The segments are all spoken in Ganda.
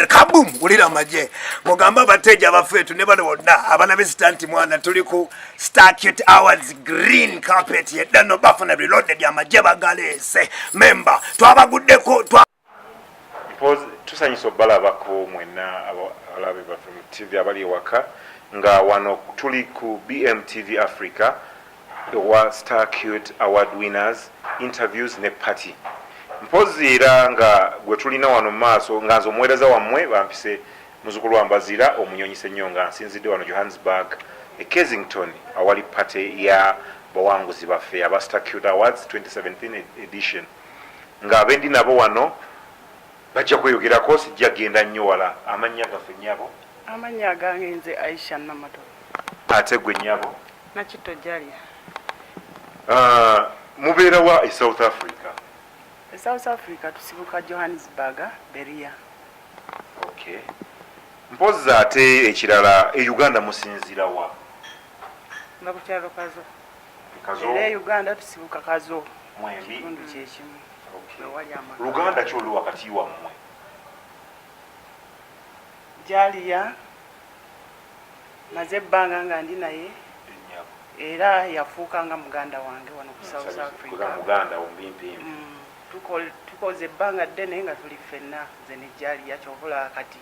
kabum wulira amaje mugamba abateja bafeetu ne bano bonna abana besita nti mwana tuli ku starcute hours green carpet yeddano bafuna reloaded amaje bagaleese memba twabaguddeko tusanyusa obalabako mwena abalabe baffe mu tv abali ewaka nga wano tuli ku bmtv africa owa Star Cute Award Winners Interviews ne Party mpozzi era nga gwe tulina wano mu maaso nga nze omuweereza wammwe bampise Muzukulu wa Mbazira Omunyonyi Ssenyonga nsinzidde wano Johannesburg e Kensington awali Party ya bawanguzi baffe aba Star Cute Awards 2017 Edition nga abendi nabo wano bajja kweyogerako sijja genda nnyo wala amannya gaffe nnyabo? Amannya gange nze Aisha Namato. Ate gwe nnyabo? Nakitto Jalya. Uh, mubeera wa e South Africa? E South Africa tusibuka Johannesburg, Beria. Okay. Mpozzi ate ekirala e Uganda musinzira wa? Nga ku kyalo Kazo. Kazo. Era e Uganda tusibuka Kazo. Mwembi. Kitundu kyekimu. Okay. Luganda ki oluwa kati wammwe? Jaliya. maze ebbanga nga ndi naye era yafuuka nga muganda wange wano ku south africa mm, tukoze ebbanga ddene nga tuli ffenna nze nejaliya kyobola kati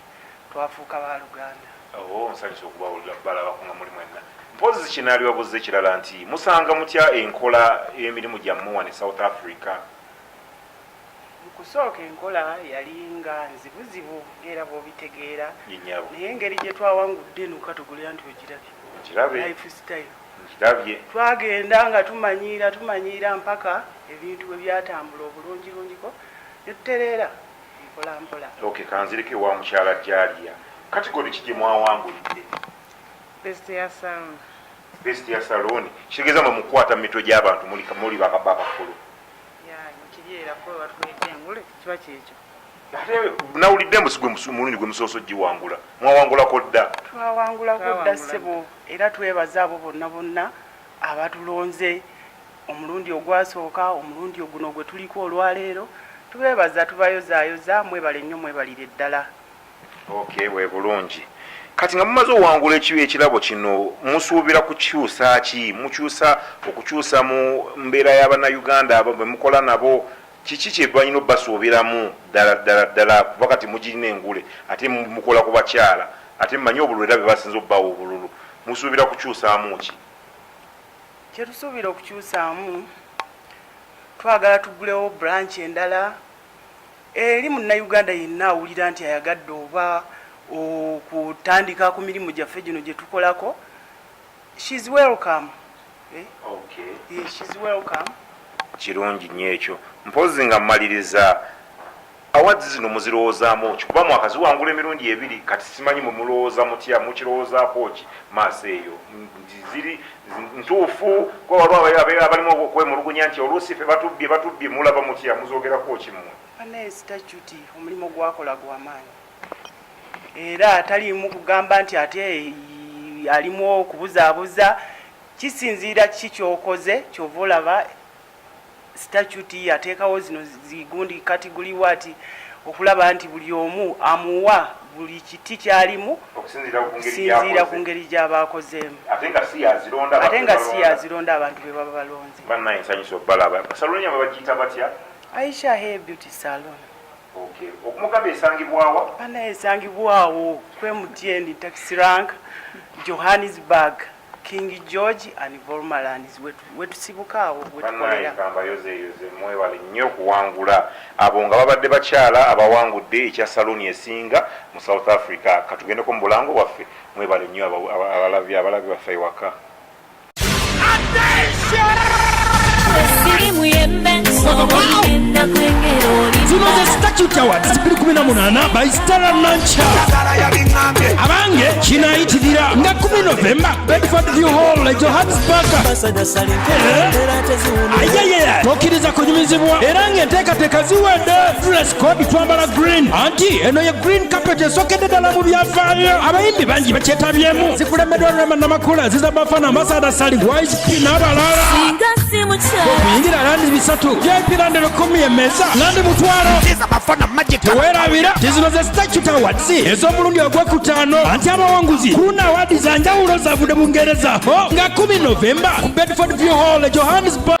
twafuuka baluganda oh, nsanyusa okubawulira balabako nga muli mwenna mpozi kinalibabuza ekirala nti musanga mutya enkola emirimu gyammwe wano e south africa Mu kusooka enkola yali nga nzibuzibu ng'era bw'obitegeera naye engeri gye twawangudde eno katugulu anti ogirabye, life style, twagenda nga tumanyiira tumanyiira mpaka ebintu bwe byatambula obulungilungiko ne tutereera mpolampola. Ok kanzireko ewa mukyala Jalia. Category ki gye mwawangulidde? Best ya saloon. Best ya saloon kitegeeza mwe mukukwata mu mitwe gy'abantu muli bakulu? nawulidde musigwe mulundi gwe musooso giwangula mwawangulako dda twawangulako dda ssebo era twebaza abo bonna bonna abatulonze omulundi ogwasooka omulundi oguno gwe tuliko olwaleero tubebaza tubayozaayoza mwebale nnyo mwebalire ddala Ok we bulungi kati nga mumaze owangula ekirabo kino musuubira kukyusa ki mukyusa okukyusa mu mbeera yabana Uganda abo bemukola nabo kiki kyebalina obasuubiramu ddala ddala ddala kuba kati mugirina engule ate mukola ku bakyala ate mumanyi obululu era bebasinza obubawa obululu musuubira kukyusaamu ki kyetusuubira okukyusaamu twagala tugulewo branch endala Eri munnayuganda yenna awulira nti ayagadde oba okutandika ku mirimu gyaffe gino gye tukolako, she is welcome. Eh? Okay. Yeah, she is welcome. kirungi nnyo ekyo mpozi nga mmaliriza awards zino muzirowoozaamu ki kuba mwaka ziwangula emirundi ebiri kati simanyi mumulowooza mutya mukirowoozaako ki maaso eyo nti ziri ntuufu kuba waliwo abeera abalimu okwemulugunya nti oluusi fe batubbye batubbye mulaba mutya muzoogerako ki mmwe banaye sitajjuti omulimu gwakola gwa maanyi era taliimu kugamba nti ate alimu okubuzaabuza kisinziira kiki kyokoze kyova olaba Statute yateekawo zino zi gundi category what okulaba nti buli omu amuwa buli kiti kyalimu okusinziira ku ngeri gyaba akozeemu ate nga si yazironda abantu be baba balonze. Banaye nsanyuse obalaba. Salon yabwe bagiyita batya? Aisha Hair Beauty Salon. Okay. Okumugamba esangibwawa? Banaye esangibwawo kwemutyeni taxi rank Johannesburg. King George and Volmalands wetusibuka awo wetukolera. Kambayozeyoze mwebale nnyo kuwangula abo nga babadde bakyala abawangudde ekya saluuni esinga mu South Africa. Katugendeko mu bulango bwaffe mwebale nnyo abalabi baffe ewaka. zino ze statute awards 2018 by stara nancha abange kinayitirira nga 10 novemba bedford view hall e johannesburg ayeyeye tokiriza kunyumizibwa era ng'enteekateeka ziwedde dress code twambala green anti eno ye green carpet esokedde ddala mu byafaayo abayimbi bangi bakyetabyemu zikulemedwa rema namakula ziza bafana Sada Sali Wise P n'abalala okuyingira landi bisatu by'ebirande lukumi emeza landi mutwalo teweerabira zino ze statute awards ez'omulundi ogw'okutaano anti abawanguzi ku luno awaadi za njawulo zavudde bungereza ho nga 1 novemba ku bedford view hall e johannesburg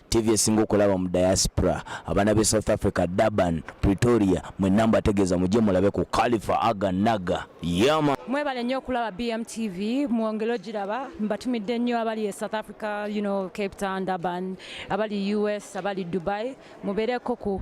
TV esinga okulaba mu diaspora abana be South Africa Durban Pretoria mwe namba ategeeza mujje mulabe ku Khalifa Aga Naga yama mwebale nnyo okulaba BMTV mwongere ogiraba mbatumidde nnyo abali e South Africa you know Cape Town Durban abali US abali Dubai mubeereko ku